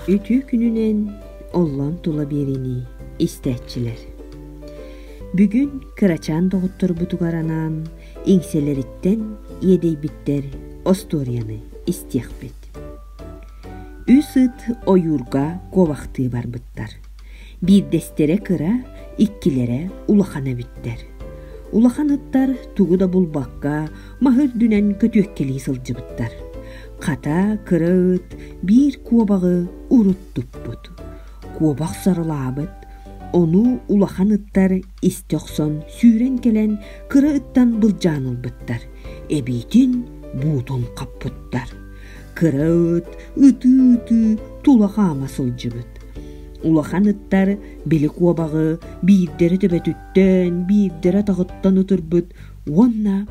үтүө күнүнэн оллон тула биэринии истээччилэр бүгүн кырачаан доҕотторбутугар анаан иҥсэлэриттэн иэдэйбиттэр остуоруйаны истиэхпит үс ыт ойуурга куобахтыы барбыттар биирдэстэрэ кыра иккилэрэ улахан эбиттэр улахан ыттар тугу да булбакка маһы үрдүнэн көтүөккэлии сылдьыбыттар. Хата, кыра ыт биир куобаҕы урут туппут. Куобах сарылаабыт, ону улахан ыттар истэ охсон сүүрэн кэлэн кыра ыттан былдьаан ылбыттар, эбиитин буутун хаппыттар. Кыра ыт ытыы-ытыы тула хаама сылдьыбыт. Улахан ыттар били куобаҕы биирдэрэ төбөтүттэн, биирдэрэ атаҕыттан утурбут уонна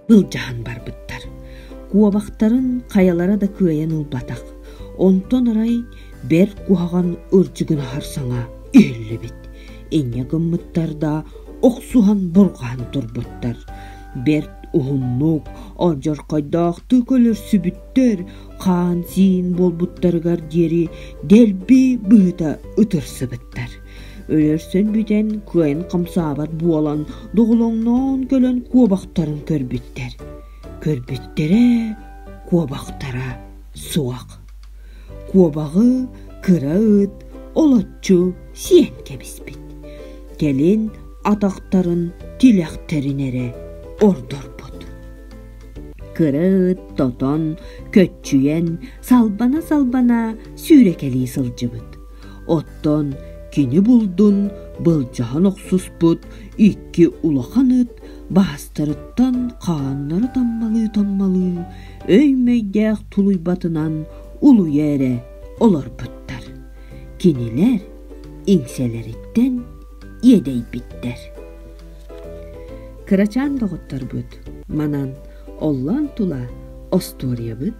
былдьаһан барбыттар. Куобахтарын хайалара да кыайан ылбатах. Онтон арай бэрт куһаҕан ырдьыгын аһар саҥа иһиллибит. Инньэ гыммыттар да охсуһан бурҕаан турбуттар. Бэрт уһуннук, одьорхойдоохтук өлөрсүбүттэр, хаан-сиин буолбуттарыгар диэри дэлби быһыта ытырсыбыттар. Өлөрсөн бүтэн кыайан хамсаабат буолан доҕолоҥноон кэлэн куобахтарын көрбүттэр. Көрбүттэрэ куобахтара суох. Куобаҕы кыра ыт олоччу сиэн кэбиспит. Кэлин атахтарын тилэхтэрин эрэ ордорбут. Кыра ыт тотон, көччүйэн, салбана-салбана сүүрэкэлии сылдьыбыт. Оттон кини булдун былдьаһан охсуспут икки улахан ыт баастарыттан хааннара таммалыы-таммалыы өй-мэйдээх тулуйбатынан улуйа эрэ олорбуттар. Кинилэр иҥсэлэриттэн иэдэйбиттэр. Кырачаан доҕотторбут манан оллоон тула остуоруйабыт